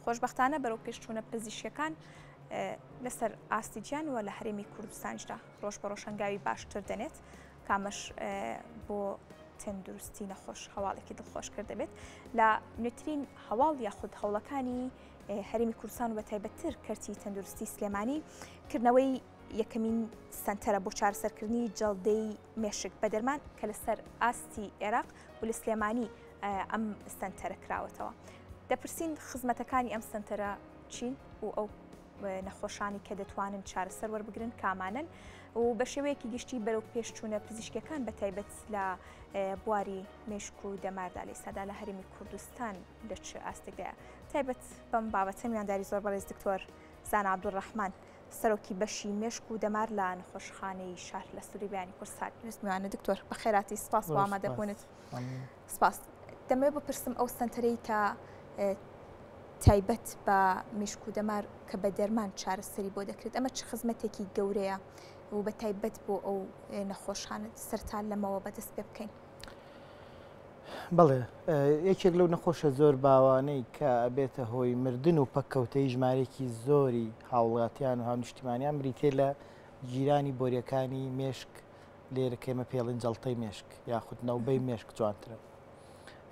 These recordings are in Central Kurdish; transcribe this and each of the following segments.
خۆشبەختانە بەرەو پێشچوونە پزیشکەکان لەسەر ئاستی جیان و لە هەرێمی کوردستانیشدا ڕۆژ بە ڕۆژ هەنگاوی باشتر دەنێت کامەش بۆ تەندروستی نەخۆش هەواڵێکی دڵخۆش کرد دەبێت لە نوێترین هەواڵ یاخود هەوڵەکانی هەرمی کوردستان و بە تایبەتتر کەرتی تەندروستی سلێمانی کردنەوەی یەکەمین سنتەرە بۆ چارەسەرکردنی جەڵدەی مێشک بە دەرمان کە لەسەر ئاستی عێراق و لە سلێمانی ئەم سەنتەرە کراوەتەوە دەپرسین خزمەتەکانی ئەم سنتەرە چین و ئەو نەخۆشانی کە دەتوانن چارەسەر وەربگرن کامانن و بە شێوەیەکی گشتی بەرەو پێشچوونە پزیشکەکان بە تایبەت لە بواری مشک و دەماردا لە سادا لە هەرمی کوردستان لە چ ئاستێکدا تایبەت بەم بابەتە میانداری زۆر بەڕێز دکتۆر زان عبدڕحمان سەرۆکی بەشی مشک و دەمار لە نەخۆشخانەی شار لە سووری بیانی کوردستان نوستمیوانە دکتۆر بەخێراتی سپاس بۆ ئامادەبوونت. سپاس دەمەوێ بپرسم ئەو سنتەرەی کە تایبەت بە مشک و دەمار کە بە دەرمان چارەسەری بۆ دەکرێت ئەمە چ خزمەتێکی گەورەیە و بە تایبەت بۆ ئەو نەخۆشانت سەران لەمەوە بەدەست پێ بکەین بڵێ یەکێک لەو نەخۆشە زۆر باوانەی کە ئەبێتە هۆی مردن و پەککەوتەی ژمارێکی زۆری هاوڵاتیان و هاونیشتیمانیان بریتێ لە گیرانی بۆریەکانی مێشک لێرە کێمە پێڵین جەڵتەی مێشک یاخود نەوبەی مێشک جوانترە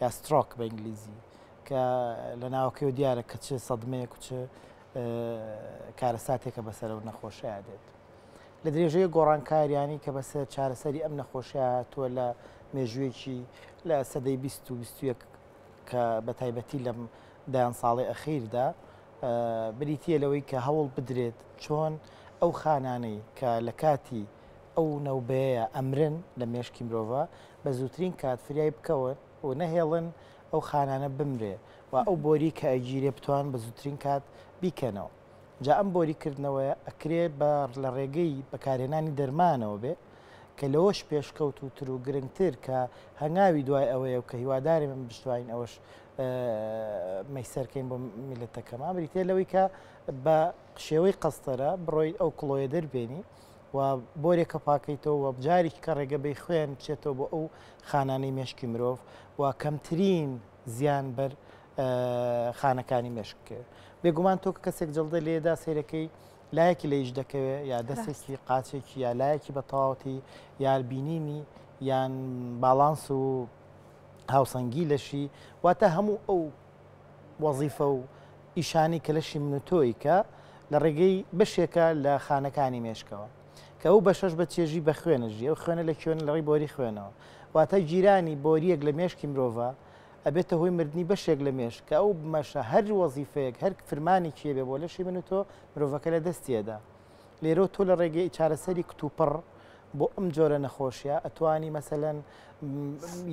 یا سترۆک بە ئینگلیزی کە لە ناوەکەی و دیارە کە چ سەدمەیە کوچ کارەساتێکە بەسەر و نەخۆشەیە دێت لە درێژەیە گۆڕانکاریانی کە بەسە چارەسەری ئەم نەخۆشیە هاتووە لە مێژوویەکی لە سەدەی 2021 کە بە تایبەتی لەم دایان ساڵی ئەخیردا بریتە لەوەی کە هەوڵ بدرێت چۆن ئەو خانانەی کە لە کاتی ئەو نەوبەیە ئەمرن لە مێشکی مرۆڤە بە زووترین کات فریای بکەون و نەهێڵن ئەو خانانە بمرێ و ئەو بۆری کە ئەگیرێ بتوان بە زووترین کات بیکەنەوە جا ئەم بۆری کردنەوەیە ئەکرێ بە لە ڕێگەی بەکارهێنانی دەرمانەوە بێ کە لەوەش پێشکەوت و تر و گرنگتر کە هەنگاوی دوای ئەوەیە و کە هیوادارێ من بشتوانین ئەوەش مەیسەرکەین بۆ میلەتەکەمان بریتێ لەوەی کە بە شێوەی قەستەرە بڕۆیت ئەو کڵۆیە دەربێنی و بۆرێکە پاکەیتەوە و جارێکی کە ڕێگە بەی خوێن بچێتەوە بۆ ئەو خانانەی مێشکی مرۆڤ و کەمترین زیان بەر خانەکانی مێشک بکەوێت بێگومان تۆ کە کەسێک جڵدە لێدا سیرەکەی لایەکی لە یش دەکەوێت یا دەستێکی قاچێکی یا لایەکی بە تەواوەتی یار بینینی یان باڵانس و هاوسەنگی لەشی واتە هەموو ئەو وەزیفە و ئیشانی کەلەشی من و تۆی کە لە ڕێگەی بەشێکە لە خانەکانی مێشکەوە کە ئەو بەشەش بە چێژی بە خوێنە ژی ئەو خوێنە لە کوێنە لە ڕێی بۆری خوێنەوە واتە گیرانی بۆریەک لە مێشکی مرۆڤە ئەبێتە هۆی مردنی بەشێک لە مێش کە ئەو بمەشە هەر وەزیفەیەک هەر فرمانێکی هەبێ بۆ لەشی من و تۆ مرۆڤەکە لە دەستیەدا لێرەو تۆ لە ڕێگەی چارەسەری کتوپڕ بۆ ئەم جۆرە نەخۆشیە ئەتوانی مەسەەن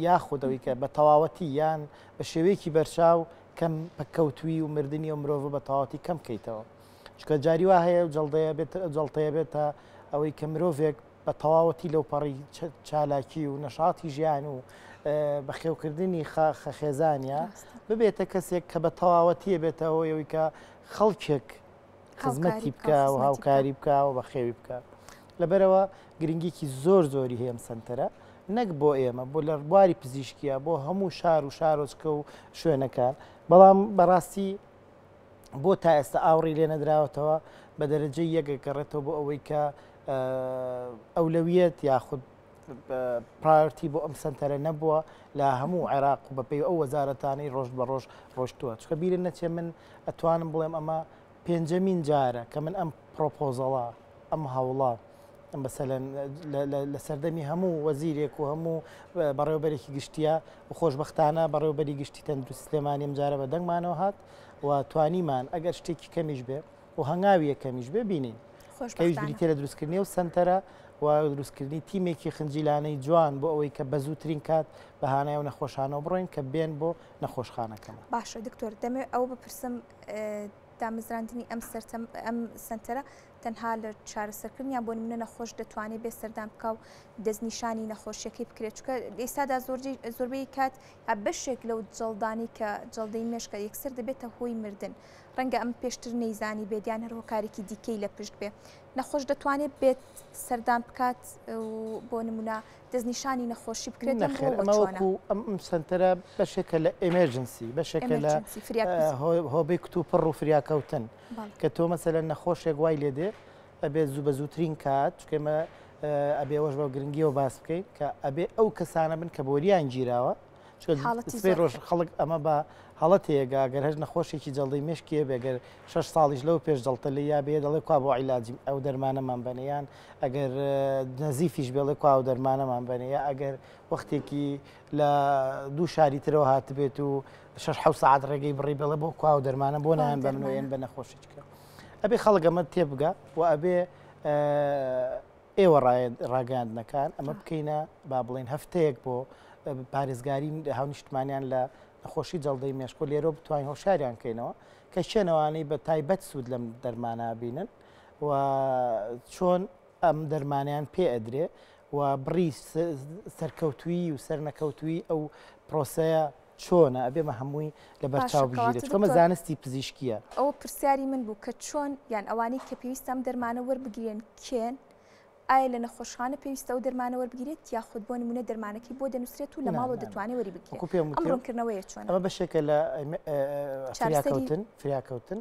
یاخود ئەوی کە بە تەواوەتی یان بە شێوەیەکی بەرچاو کەم پکەوتوی و مردنی و مرۆڤ بە تەواتی کەم کەیتەوە چکە جاری وا هەیە و جڵدەیە بێت جڵتەیە بێتە ئەوەی کە مرۆڤێک بە تەواوەتی لەو پەڕی چالاکی و نەشاتی ژیان و بەخێوکردنی خاخە خێزانە ببێتە کەسێک کە بە تەواوەتیە بێتەوە یەوەی کە خەڵکێک خزمەتی بکە و هاوکاری بکە و بەخێوی بکە لەبەرەوە گرنگیکی زۆر زۆری هەیەم سنتەرە نەک بۆ ئێمە بۆ لە ڕبواری پزیشکیە بۆ هەموو شار و شارۆچکە و شوێنەکان بەڵام بەڕاستی بۆ تا ئێستا ئاوڕی لێ نەدراوەتەوە بە دەرەجەی یەکەکەڕێتەوە بۆ ئەوەی کە ئەولەویەت یاخود پرایۆرتی بۆ ئەم سنتەرە نەبووە لە هەموو عێراق و بەپی ئەو وەزارەتانی ڕۆژ بە ڕۆژ ڕۆشتووە چکە بیرن نەچێ من ئەتوانم بڵێم ئەمە پێنجەمین جارە کە من ئەم پرۆپۆزەڵە ئەم هەوڵە بەسەلەن لە سەردەمی هەموو وەزیرێک و هەموو بەڕێوبەرێکی گشتیە و خۆشببختانە بەڕێوبەری گشتی تەندروست سلێمانیم جارە بە دەنگمانەوە هات و توانیمان ئەگەر شتێکی کەمیش بێ و هەنگاوی یەکەمیش ببینین کەویش بریتە لە دروستکردنی و سنتەرە و دروستکردنی تیمێکی خنجیلانەی جوان بۆ ئەوەی کە بە زووترین کات بە هاانای و نەخۆشانەوە بڕۆین کە بێن بۆ نەخۆشخانەکەمە باشە دکتۆر دەمێ ئەو بپرسم دامەزراندنی ئەم سەرم ئەم سنتەرە تەنها لە چارەسەرکردنیان بۆ منە نەخۆش دەتوانێت بێ سەردان بکە و دەستنیشانی نەخۆشیەکەی بکرێت چکە ئێستادا زۆرجی زۆربەی کات بەشێک لەو جڵدانی کە جڵدەی مێشکە یەکسەر دەبێتە هۆی مردن ڕەنگە ئەمە پێشتر نەیزانیبێت یان هەر هۆکارێکی دیکەی لە پشت بێ نەخۆش دەتوانێت بێت سەردان بکات بۆ نمونە دەستنیشانی نەخۆشی بکرێت ئەم سنتەرە بەشێکە لە ئەمێرجنسی بەشێکە لە هۆبی کت و پڕ و فریاکەوتن کە تۆ مەسە لە نەخۆشێک وای لێ دێ ئەبێت زوو بە زووترین کات چکێمە ئەبێوەش بە گرنگیەوە باس بکەین کە ئەبێ ئەو کەسانە بن کە بۆریان گیراوە سێ ڕۆژ خەڵک ئەمە بە هەڵە تێگا گەر هەر نەخۆشێکی جەڵدەی مشکێ بێگەر شش ساڵیش لەو پێش جڵتە لە یا بێ دەڵێ کوا بۆ عیلاجیم ئەو دەرمانەمان بەنیان ئەگەر نەزیفیش بێڵێ کوا و دەرمانەمان بەنێ یا ئەگەر وەختێکی لە دوو شاری ترەوە هاتبێت و شش حو سعات ڕێگەی بڕی بڵێ بۆ کوا و دەرمانە بۆ نایان بەمنوێن بە نەخۆشیچکە ئەبێ خەڵگەمە تێبگە و ئەبێ ئێوە ڕاگەیاندنەکان ئەمە بکەینە با بڵێن هەفتەیەک بۆ پارێزگاری هاونیشتمانیان لە نەخۆشی جەڵدەی مێشکۆ لێرە بتوانین هۆشاریان کەینەوە کە شوێنەوانی بە تایبەت سوود لەم دەرمانە بینن و چۆن ئەم دەرمانیان پێ ئەدرێ و بڕی سەرکەوتویی و سەرنەکەوتویی ئەو پرۆسەیە چۆنە ئەبێ مە هەمووی لە بەرچاو بگیرێت چکەمە زانستی پزیشکیە ئەو پرسیاری من بوو کە چۆن یان ئەوانەی کە پێویستم دەرمانە وەربگرێن کێن ئایا لە نەخۆشخانە پێویستە و دەرمانە وەربگرێت یاخود بۆ نمونە دەرمانەکەی بۆ دەنووسێت و لە ماڵۆ دەتوانێت وەری بگرێت ڕوونکردنەوەی چۆن ئەمە بەشێکە لە فریاکەوتن فریاکەوتن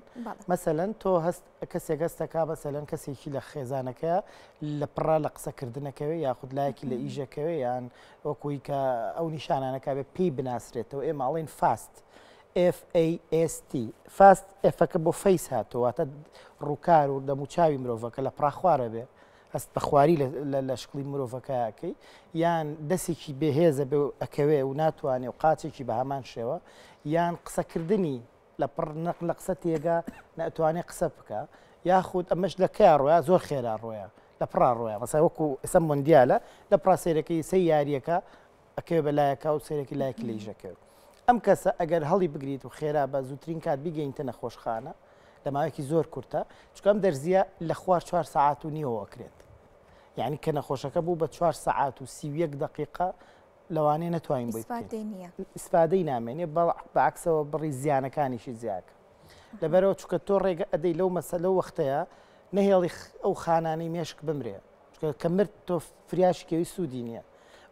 مەسەەن تۆ هەست کەسێک هەستەکا مەسەلەن کەسێکی لە خێزانەکەیە لە پڕا لە قسەکردنەکەوێ یاخود لایەکی لە ئیژەکەوێ یان وەکوی کە ئەو نیشانانەکە بێ پێی بناسرێتەوە ئێ ماڵین فاست FAST فاست ئفەکە بۆ فەیس هاتوواتە ڕووکار و دەموچاوی مرۆڤەکە لە پراخوارە بێ هەست بەخواری لە شکڵی مرۆڤەکەکەی یان دەسێکی بەهێزە بێ ئەکەوێ و ناتوانێ و قاچێکی بە هەمان شێوە یان قسەکردنی لە پڕ نەق لە قسە تێگا نەئەتوانێ قسە بکا یاخود ئەمەش لە کیا ڕۆیا زۆر خێرا ڕۆیا لە پڕا ڕۆیا مەسای وەکو ئسە مندیالە لە پڕا سێرەکەی سەی یاریەکە ئەکەوێ بە لایەکە و سێرەکی لایەک لیژەکەوێت ئەم کەسە ئەگەر هەڵی بگریت و خێرا بە زووترین کات بیگەینتە نەخۆشخانە لە ماوەیەکی زۆر کورتە چکم دەرزیە لە خوار چوار ساعت و نیەوەکرێت یعنی کە نەخۆشەکە بوو بە چوار ساعت و سیویەک دقیقا لەوانەیە نەتوانین بۆی ئیسفادەی نامێنێ بەعکسەوە بڕی زیانەکانیشی زیاکە لەبەرەوە چکە تۆ ڕێگە ئەدەی لەو مەسە لەو وەختەیە نەهێڵی ئەو خانانەی مێشک بمرێ کە مرد تۆ فریاشکەوی سوودی نییە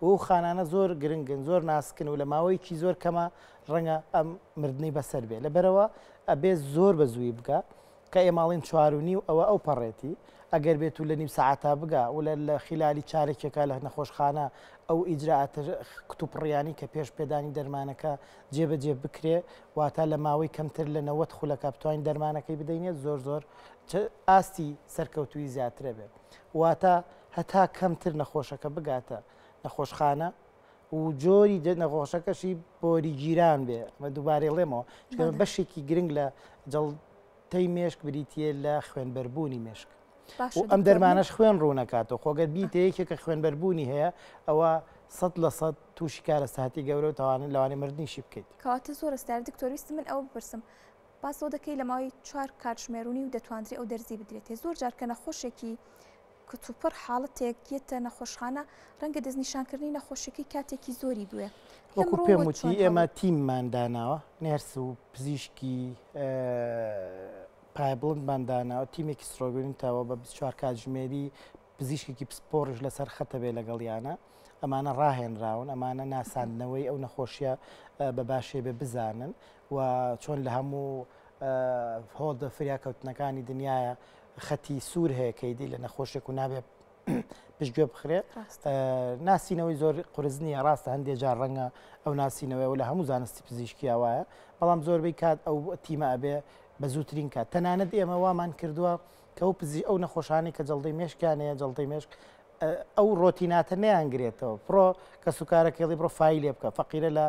و خانانە زۆر گرنگن زۆر ناسکن و لە ماوەیەکی زۆر کەمە ڕەنگە ئەم مردنی بەسەر بێ لەبەرەوە ئەبێ زۆر بە زووی بگە کە ئێماڵین چوار و نیو ئەوە ئەو پەڕێتی ئەگەر بێت و لە نیو سەعاتا بگا و لە لە خیلالی چارەکێکا لە نەخۆشخانە ئەو ئیجرائاتە کتوپڕیانەی کە پێش پێدانی دەرمانەکە جێ بە جێ بکرێ واتا لە ماوەی کەمتر لە نەوەد خولەکا بتوانین دەرمانەکەی بدەینێ زۆر زۆر ئاستی سەرکەوتووی زیاترە بێت واتا هەتا کەمتر نەخۆشەکە بگاتە نەخۆشخانە و جۆری جە نەخۆشەکەشی بۆری گیران بێ مە دووبارەێڵێمەوە چکە بەشێکی گرنگ لە جەڵتەی مێشک بریتە لە خوێنبەربوونی مێشک ئەم دەرمانش خوێن ڕوونەکاتەوە خۆگەر بیتە یەکێکە خوێنبەربوونی هەیە ئەوە سەد لە سەد تووشی کارە ساتی گەورە و تاوانە لەوانێ مردنیشی بکەیت کەواتە زۆر ستار دکتۆریست من ئەو بپرسم پاسەوە دەکەی لە ماوەی چوار کاتژمێرونی و دەتواندری ئەو دەرزی بدرێتێ زۆر جارکە نەخۆشێکی کتوپڕ حاڵەتێک یەتە نەخۆشخانە، رەنگە دەستنیشانکردنی نەخۆشیەکەی کاتێکی زۆری بوێ. وەکو پێم وتی ئێمە تیممان داناوە، نێرس و پزیشکی پایە بڵندمان داناوە، تیمێکی سڕۆگوێن تاوە بە بیست و چوار کاتژمێری پزیشکێکی پسپۆڕیش لەسەر خەتە بێ لەگەڵیانە، ئەمانە راهێنراون، ئەمانە ناساندنەوەی ئەو نەخۆشیە بە باشێ بێ بزانن و چۆن لە هەموو هۆڵدە فریاکەوتنەکانی دنیاە خەتی سوور هەیە کەیدی لە نەخۆشێک و نابێت پشتگوێ بخرێ ناسینەوەی زۆر قرس نییە ڕاستە هەندێک جار ڕەنگە ئەو ناسینەوەی و لە هەموو زانستی پزیشکیا وایە بەڵام زۆربەی کات ئەو تیمە ئەبێ بە زووترین کات تەنانەت ئێمە وامان کردووە کە ئەو پزی ئەو نەخۆشانی کە جڵدەی مێشکیانەیە جڵدەی مێشک ئەو ڕۆتیناتە نیانگرێتەوە پڕۆ کە سوکارەکەڵی بڕۆ فیلێ بکە فەقیرە لە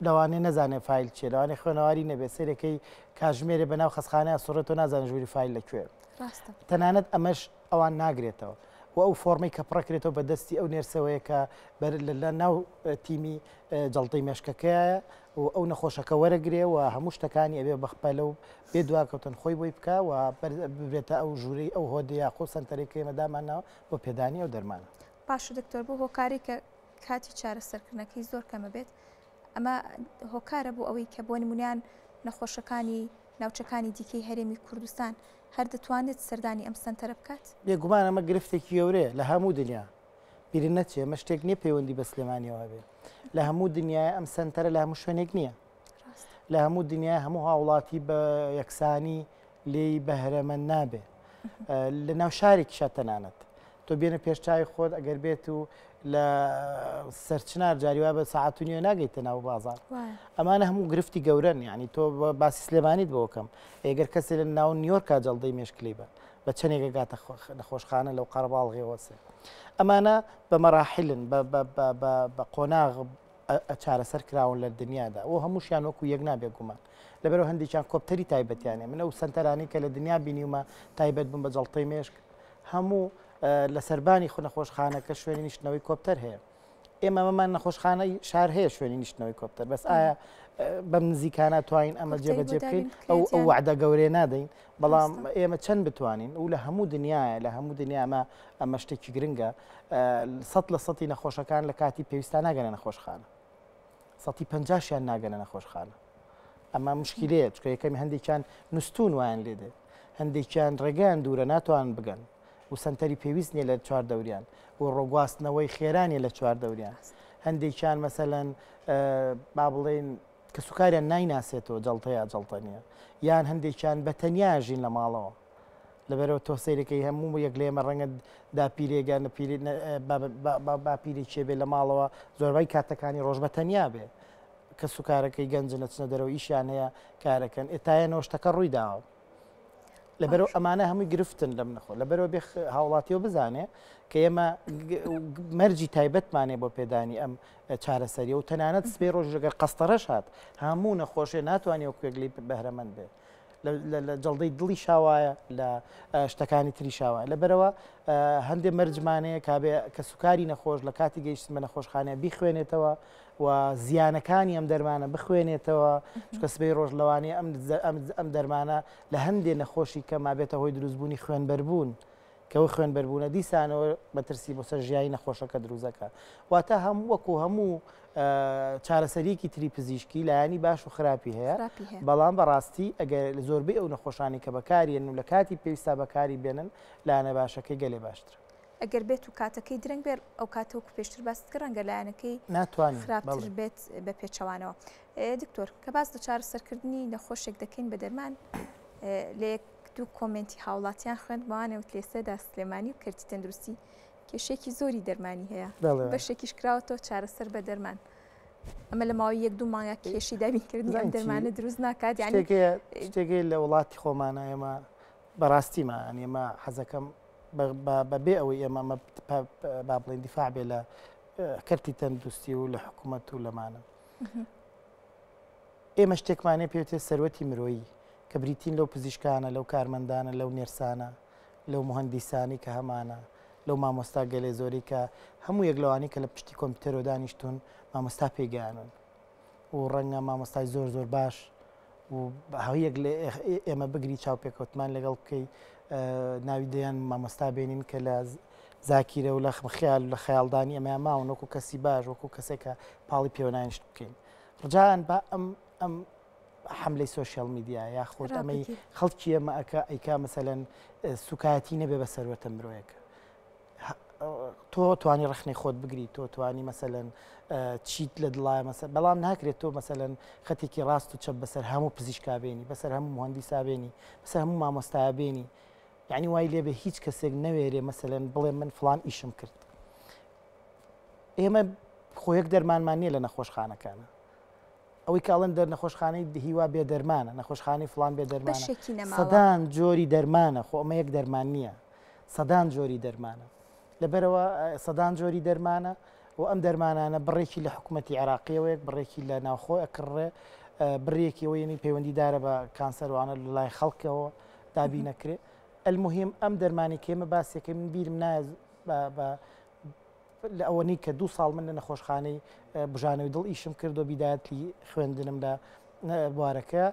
لەوانەیە نەزانێ فایل چیە لەوانەیە خوێنەواری نەبێ سەیرەکەی کاژمێرێ بە ناو خەسخانەیە سوڕێت تۆ نازانە ژووری فایل لە کوێ ڕاستە تەنانەت ئەمەش ئەوان ناگرێتەوە و ئەو فۆرمەی کە پڕەکرێتەوە بە دەستی ئەو نێرسەوەیە کە بەر لە لە ناو اه، تیمی اه، جەڵتەی مێشکەکەیە و ئەو نەخۆشەکە وەرەگرێ و هەموو شتەکانی ئەبێ بەخپەلە و بێ دواکەوتن خۆی بۆی بکە و بەر- ببرێتە ئەو ژوورەی ئەو هۆدەیە خۆ سەنتەرێکەکەی مەدامانەوە بۆ پێدانی ئەو دەرمانە پاشە دکتۆر بۆ هۆکاری کە کاتی چارەسەرکردنەکەی زۆر کەمە بێت ئەمە هۆکارە بۆ ئەوەی کە بۆ نمونیان نەخۆشەکانی ناوچەکانی دیکەی هەرێمی کوردستان هەر دەتوانێت سەردانی ئەم سنتەرە بکات بێگومان ئەمە گرفتێکی گەورەیە لە هەموو دنیا بیرن نەچێ مە شتێک نییە پەیوەندی بە سلێمانیەوە بێ لە هەموو دنیای ئەم سنتەرە لە هەموو شوێنێک نییە لە هەموو دنیای هەموو هاوڵاتی بە یەکسانی لێی بەهرەمەند نابێ لە ناو شارێکیشە تەنانەت تۆ بێنە پێشچوی خۆت ئەگەر بێت و لە سەرچنار جاریوا بە ساعت و نیە ناگەیتە ناو بازار ئەمانە هەموو گرفتی گەورن ینی تۆ باسی سلێمانیت بۆکەم ئێگەر کەسێ لە ناو نیۆرکە جەڵدەی مشکلی بن بە چەندێکە گاتە نەخۆشخانە لەو قەرباڵغێوەسێ ئەمانە بە مەراحلن بە قۆناغ چارەسەر کراون لە دنیادا و هەمووشیان وەکو یەک نابێ گومان لەبەرئەوە هەندێکیان کۆپتەری تایبەتیانێ من ئەو سەنتەرانی کە لە دنیا بینیومە تایبەت بوون بە جەڵتەی مێشک هەموو لە سەربانی خو نەخۆشخانەکە شوێنی نیشتنەوەی کۆپتەر هەیە ئێمە مەمان نەخۆشخانەی شار هەیە شوێنی نیشتنەوەی کۆپتەر بەس ئایا بەم نزیکانە توانین ئەمە جێبەجێ بکەین ئەو ئەو وعدە گەورێ نادەین بەڵام ئێمە چەند بتوانین و لە هەموو دنیاە لە هەموو دنیاما ئەمە شتێکی گرنگە سە لە سەی نەخۆشەکان لە کاتی پێویستان ناگەنە نەخۆشخانە سەتی پەنجا شیان ناگەنە نەخۆشخانە ئەمە مشکلەیە چکە یەکەمی هەندێکیان نوستون وایان لێ دێت هەندێکیان ڕێگەیان دوورە ناتوان بگەن و سنتەری پێویست نیە لە چوار دەوریان و ڕۆگواستنەوەی خێرانیە لە چوار دەوریان هەندێکیان مەسەەن با بڵێن کە سوکاریان نایناسێتەوە جڵتەیە جڵتە نیە یان هەندێکیان بە تەنیا ژین لە ماڵەوە لەبەرەوە تۆ سەیرەکەی هەموو یەک لە ئێمە ڕەنگە داپیرێگە باپیری چێ بێ لە ماڵەوە زۆربەی کاتەکانی ڕۆژ بە تەنیا بێ کە سوکارەکەی گەنج نەچنە دەرەوە ئیشیان هەیە کارەکەن ئێتایەنەوە شتەکە ڕووی داوە لەبەرەوە ئەمانە هەمووی گرفتن لەم نەخۆ لەبەرەوە بێ هاوڵاتیەوە بزانێ کە ئێمە مەرجی تایبەتمانێ بۆ پێدانی ئەم چارەسەری و تەنانەت سپێ ڕۆژ لەگەر قەستەرەش هات هەموو نەخۆشێ ناتوانانی وەکوێک لی بەهرەمەند بێت لە جەڵدەی دڵیشا وایە لە شتەکانی تریشا وایە لەبەرەوە هەندێک مەرجمانەیە کابێ کە سوکاری نەخۆش لە کاتی گەیشتن بە نەخۆشخانە بیخوێنێتەوە و زیانەکانی ئەم دەرمانە بخوێنێتەوە چکە سبەی ڕۆژ لەوانەیە ئەم ئەم دەرمانە لە هەندێ نەخۆشی کە مابێتە هۆی دروستبوونی خوێنبەربوون کە و خوێن بەربوونە دیسانەوە مەترسی بۆ سەر ژیانی نەخۆشەکە دروست دەکات واتە هەم وەکو هەموو چارەسەریەکی تری پزیشکی لایانی باش و خراپی هەیە بەڵام بەڕاستی ئەگەر لە زۆربەی ئەو نەخۆشانی کە بەکارێن و لە کاتی پێویستا بەکاری بێنن لایەنە باشەکەی گەلێ باشتر ئەگەر بێت و کاتەکەی درەنگ بێت ئەو کاتەوەکو پێشتر باست کرد ڕەنگە لایەنەکەی ناتوان خراپتر بێت بە پێچەوانەوە دکتۆر کە باس لە چارە سەرکردنی نەخۆشێک دەکەین بە دەرمان لە دوو کۆمێنتی هاوڵاتیان خوێند بەوانە وت لێسێدا سلێمانی و کەرتی تەندروستی کێشەیەکی زۆری دەرمانی هەیە بەشێکیش کراوەتەوە چارەسەر بە دەرمان ئەمە لە ماوەی یەک دوو مانگا کێشی دابینکردنی ئەم دەرمانە دروست ناکات یعنی شتێکی لە وڵاتی خۆمانە ئێمە بەڕاستیمە ئەن ئێمە حەزەکەم بەبێ ئەوەی ئێمە ئەمە با بڵێن دیفاع بێ لە کەرتی تەندروستی و لە حکوومەت و لەمانە ئێمە شتێکمانێ پێێتێ سەروەتی مرۆیی کە بریتین لەو پزیشکانە، لەو کارمەندانە، لەو نێرسانە، لەو موهەندیسانەی کە هەمانە، لەو مامۆستا گەلێ زۆرەی کە هەموو یەک لەوانەی کە لە پشتی کۆمپیوتەرەوە دانیشتوون مامۆستا پێی گەیانوون و ڕەنگە مامۆستای زۆر زۆر باش و هەویەک لە ئێمە بگری چاوپێکەوتمان لەگەڵ بکەی ناوی دەیان مامۆستا بینین کە لە زاکیرە و لە خمخیال لە خەیاڵدانی ئەمە ماون وەکو کەسی باش وەکو کەسێکە پاڵی پێوەنانیشت بکەین ڕجان بە ئەم ئەم حملەی سوۆشیال میدیا یاخود ئەمەی خەڵکی ئەمەکە ئەیکا مەسەەن سوکایەتی نەبێ بە سەروەتە مرۆیەکە تۆ توانی ڕخنەی خۆت بگری تۆ توانی مەسەەن چیت لە دڵای مەسە بەڵام ناکرێت تۆ مەسەەن خەتێکی ڕاست و چە بەسەر هەموو پزیشکابێنی بەسەر هەموو مهندی سابێنی بەسەر هەموو مامۆستابێنی یعنی وای لێ بە هیچ کەسێک نەوێرێ مەسەەن بڵێ من فلان ئیشم کرد ئێمە خۆیەک دەرمانمان نییە لە نەخۆشخانەکانە ئەوەی کە ئەڵێن دەر نەخۆشخانەی هیوا بێ دەرمانە، نەخۆشخانەی فڵان بێ دەرمانە، بەشێکی نەماوە. سەدان جۆری دەرمانە، خۆ ئەمە یەک دەرمان نییە، سەدان جۆری دەرمانە. لەبەرئەوە سەدان جۆری دەرمانە و ئەم دەرمانانە بڕێکی لە حکومەتی عێراقییەوەیەک، بڕێکی لە ناوخۆ ئەکڕڕێ، بڕیەکی ئەوە یەنی پەیوەندیدارە بە کانسەر و ئانە لە لای خەڵکەوە دابین ئەکرێ. ئەلموهیم ئەم دەرمانەی کە ئێمە باسیەکەی من بیرم نایە بە لە ئەوەنەی کە دوو ساڵ من لە نەخۆشخانەی بژانەوەی دڵ ئیشم کرد و بیدایەتی خوێندنم لە بوارەکە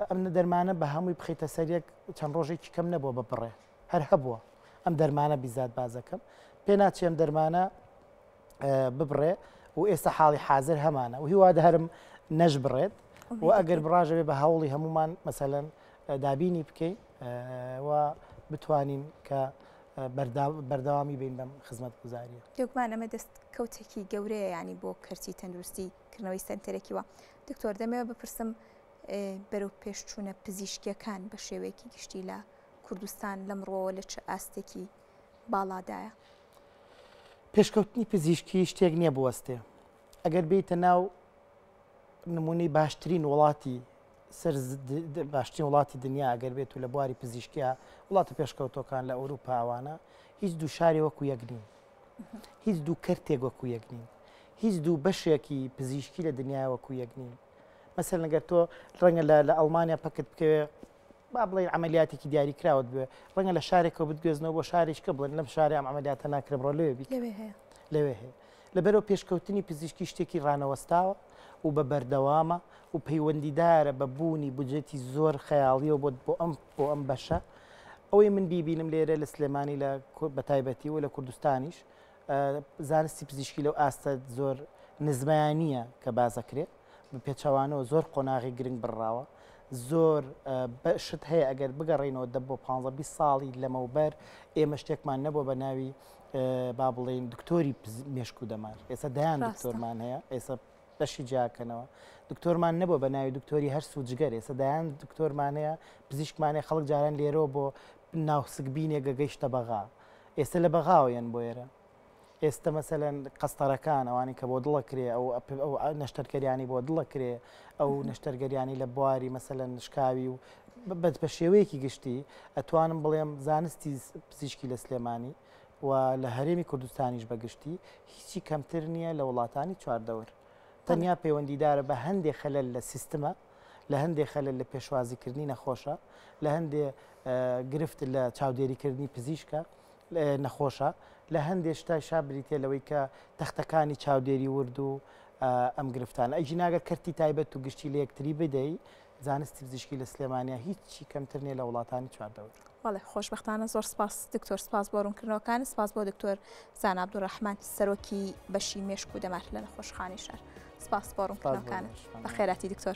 ئەم دەرمانە بە هەمووی بخیتە سەر یەک چەند ڕۆژێکی کەم نەبووە بە بڕێ هەر هەبووە ئەم دەرمانە بیزات بازەکەم پێ ناچێم دەرمانە ببڕێ و ئێستا حاڵی حاضر هەمانە و هیوا دەهرم نەش بڕێت و ئەگەر بڕاژەوێ بە هەوڵی هەمومان مەسەەن دابینی بکەین و بتوانین کە بەردەوامی بین بەم خزمەتگوزاریە. بێگومان ئەمە دەست کەوتێکی گەورەیە یانی بۆ کەرتی تەندروستی کردنەوەی سەنتەرێکی وا. دکتۆر دەمەوێت بپرسم بەرەو پێشچوونە پزیشکیەکان بە شێوەیەکی گشتی لە کوردستان لەم ڕۆوە لە چ ئاستێکی باڵادایە پێشکەوتنی پزیشکی شتێک نییە بوەستێ ئەگەر بیتە ناو نمونەی باشترین وڵاتی سەر باشترین وڵاتی دنیا ئەگەر بێت و لە بواری پزیشکیا وڵاتە پێشکەوتۆکان لە ئەوروپا ئەوانە هیچ دوو شاری وەکو یەک نین هیچ دوو کەرتێک وەکو یەک نین هیچ دوو بەشێکی پزیشکی لە دنیا وەکو یەک نین مەسەر لەگەر تۆ ڕەنگە لە ئەڵمانیا پکت بکەوێ با بڵێن عملیاتێکی دیاری کراوت بێ ڕەنگە لە شارێکەوە بتگوێزنەوە بۆ شارێککە بڵێن لەم شارە ئەم عملیاتە ناکرێ بڕۆ لێ لەوێ هەیە لەبەرئەوە پێشکەوتنی پزیشکی شتێکی ڕانەوەستاوە و بە بەردەوامە و پەیوەندیدارە بە بوونی بودجەتی زۆر خەیاڵیەوە بۆت بۆ ئەم بۆ ئەم بەشە ئەوەی من بیبینم لێرە لە سلێمانی لە بەتایبەتی و لە کوردستانیش زانستی پزیشکی لەو ئاستە زۆر نزمایانە کە بازەکرێت بە پێچوانەوە زۆر قۆناغی گرنگ بڕاوە زۆر شت هەیە ئەگەر بگەڕینەوە دە بۆ 15 ساڵی لەمەوبەر ئێمە شتێکمان نەبووە بە ناوی با بڵێین دکتۆری مێشک و دەمار ئێستا دایان دکتۆرمان هەیە ئێستا بەشی جیاکەنەوە دکتۆرمان نەبوو بە ناوی دکتۆری هەر سوودجگەر ئێستا دایان دکتۆرمانەیە پزیشکمانێ خەڵک جاران لێرەوە بۆ ناوسک بینێ گەگەیشتە بەغا ئێستا لە بەغاوەیەن بۆ ئێرە ئێستا مەسەەن قەستەرەکان ئەوانی کە بۆ دڵە کرێ ئەو ئەو نەشتەرکەریانی بۆ دڵە کرێ ئەو نەشتەرگەریانی لە بواری مەسەەن شکاوی و بەس بە شێوەیەکی گشتی ئەتوانم بڵێم زانستی پزیشکی لە سلێمانی و لە هەرێمی کوردستانیش بە گشتی هیچی کەمتر نییە لە وڵاتانی چواردەور تەنیا پەیوەندیدارە بە هەندێک خەلل لە سیستمە لە هەندێک خەلل لە پێشوازیکردنی نەخۆشە لە هەندێ گرفت لە چاودێریکردنی پزیشکە نەخۆشە لە هەندێ شتای شابریتێ لەوەی کە تەختەکانی چاودێری ورد و ئەم گرفتان ئەجی ناگە کەرتی تایبەت و گشتی لە یەکتری بدەی زانستی پزیشکی لە سلێمانیا هیچی کەمتر نیە لە وڵاتانی چواردەور. بەڵێ خۆشبختانە زۆر سپاس دکتۆر سپاس بۆ ڕوونکردنەوەکانی سپاس بۆ دکتۆر زان عبدوڕحمان سەرۆکی بەشی مێشک و دەمار لە نەخۆشخانی شار سپاس بۆ ڕوونکردنەوەکانت بە خێراتی دکتۆر.